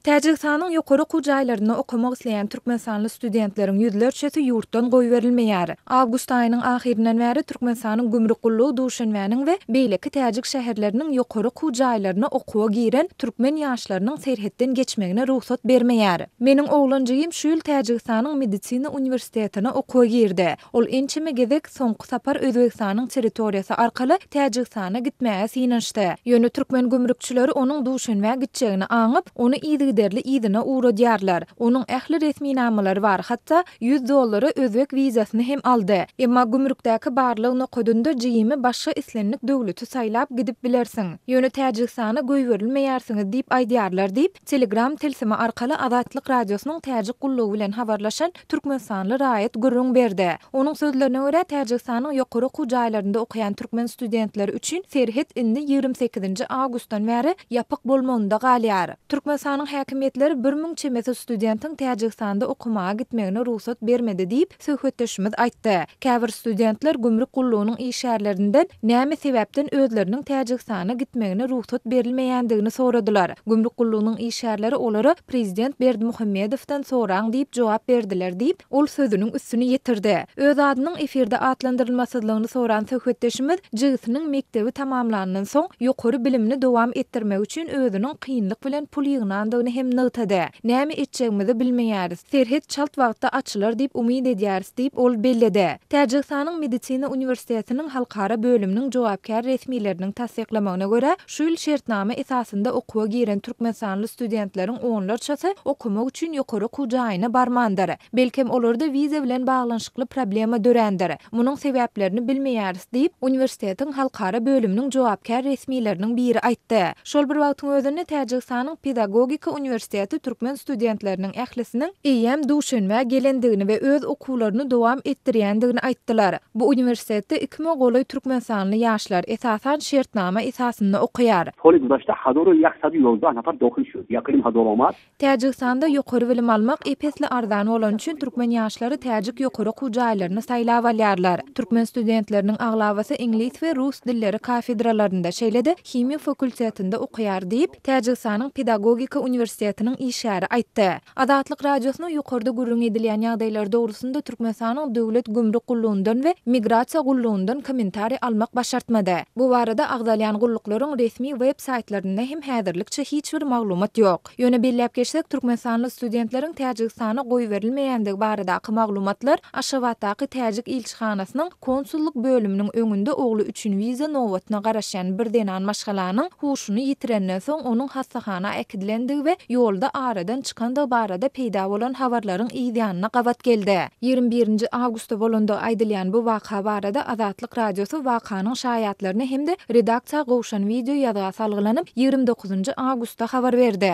Täjigistanyň ýokary okuw jaýlarynda okamak isleýän türkmenistanly studentleriň ýüzlerçesi ýurtdan goýberilmeýär. Awgust aýynyň ahyryndan bäri Türkmenistanyň gümrük gullugy Duşanbäniň we beýleki täjik şäherleriniň ýokary okuw jaýlaryna okuwa giren türkmen ýaşlarynyň serhetden geçmegine rugsat bermeýär. Meniň oglanjygym şu ýyl Täjigistanyň medisina uniwersitetine okuwa girdi. Ol ençeme gezek soňky sapar Özbegistanyň territoriýasy arkaly Täjigistana gitmäge synanyşdy. Ýöne türkmen gümrükçileri onuň Duşenbä gitjegini aňyp, ony yzygiderli yzyna ugradýarlar. Onuň ähli resminamalary bar, hatda ýüz dollara özbek wizasyny hem aldy. Emma gümrükdäki barlag nokadynda JIM-i başga islendik döwleti saýlap gidip bilersiň. Ýöne Täjigistana goýberilmeýärsiňiz diýip aýdýarlar diýip, Telegram tilsimi arkaly Azatlyk Radiosynyň Täjik gullugy bilen habarlaşan Türkmenistanly raýat gürrüň berdi. Onuň sözlerine görä, Täjigistanyň ýokary okuw jaýlarynda okaýan türkmen studentleri üçin serhet indi ýigrimi sekizinji awgustdan bäri ýapyk bolmagynda galýar. Türkmenistanyň häkimiýetleri bir müň çemesi studentiň Täjigistanda okamaga gitmegine rugsat bermedi diýip, söhbetdeşimiz aýtdy. Käbir studentler gümrük gullugynyň işgärlerinden näme sebäpden özleriniň Täjigistana gitmegine rugsat berilmeýändigini soradylar. Gümrük gullugynyň işgärleri olara prezident Berdimuhamedowdan soraň diýip jogap berdiler diýip, ol sözüniň üstüni ýetirdi. Öz adynyň efirde atlandyrylmasyzlygyny soran söhbetdeşimiz jigisiniň mekdebi tamamlandan soň ýokary bilimini dowam etdirmek üçin özüniň kynlyk bilen pul ýygnandygyny hem nygtady. Näme etjegimizi bilmeýäris. Serhet çalt wagtda açylar diýip umyt edýäris diýip, ol belledi. Täjigistanyň Medisina uniwersitetiniň halkara bölüminiň jogapkär resmileriniň tassyklamagyna görä, Şu ýyl şertnama esasynda okuwa giren türkmenistanly studentleriň onlarçasy okamak üçin ýokary okuw jaýyna barmandyr. Belkem, olarda wiza bilen baglanyşykly problema dörändir. Munuň sebäplerini bilmeýäris diýip, uniwersitetiň halkara bölüminiň jogapkär resmileriniň biri aýtdy. Şol bir wagtyň özünde Täjigistanyň pedagogika uniwersiteti türkmen studentleriniň ählisiniň eýýäm Duşenbä gelendigini we öz okuwlaryny dowam etdirýändigini aýtdylar. Bu uniwersitetde iki müňe golaý türkmenistanly ýaşlar, esasan, şertnama esasynda okaýar. Poly Gudaşda Hadoro ýa Sadu ýolda Anapar Dohun şu, Ýakylim Hadoromar. Täjigistanda ýokary bilim almak ep-esli arzan bolany üçin türkmen ýaşlary täjik ýokary okuw jaýlaryny saýlap alýarlar. Türkmen studentleriniň aglabasy iňlis we rus dilleri kafedralarynda, şeýle-de himiýa fakultetinde okaýar diýip, Täjigistanyň pedagogika uniwersitetiniň işgäri aýtdy. Azatlyk Radiosyna ýokarda gürrüň edilýän ýagdaýlar dogrusynda Türkmenistanyň Döwlet gümrük gullugyndan we Migrasiýa gullugyndan kommentariý almak başartmady. Bu barada agzalýan gulluklaryň resmi web saýtlarynda hem häzirlikçe hiç bir maglumat ýok. Ýöne belläp geçsek, türkmenistanly studentleriň Täjigistana goýberilmeýändigi baradaky maglumatlar Aşgabatdaky täjik ilçihanasynyň konsullyk bölüminiň öňünde ogly üçin wiza nobatyna garaşýan bir zenan maşgalanyň huşuny ýitirenden soň onuň hassahana äkidilendigi we ýolda aradan çykandygy barada peýda bolan habarlaryň yz ýanyna gabat geldi. Ýigrimi birinji awgustda bolandygy aýdylýan bu waka barada Azatlyk Radiosy wakanyň şaýatlaryna hem-de redaksiýa gowşan wideo ýazga salgylanyp, ýigrimi dokuzynjy awgustda habar berdi.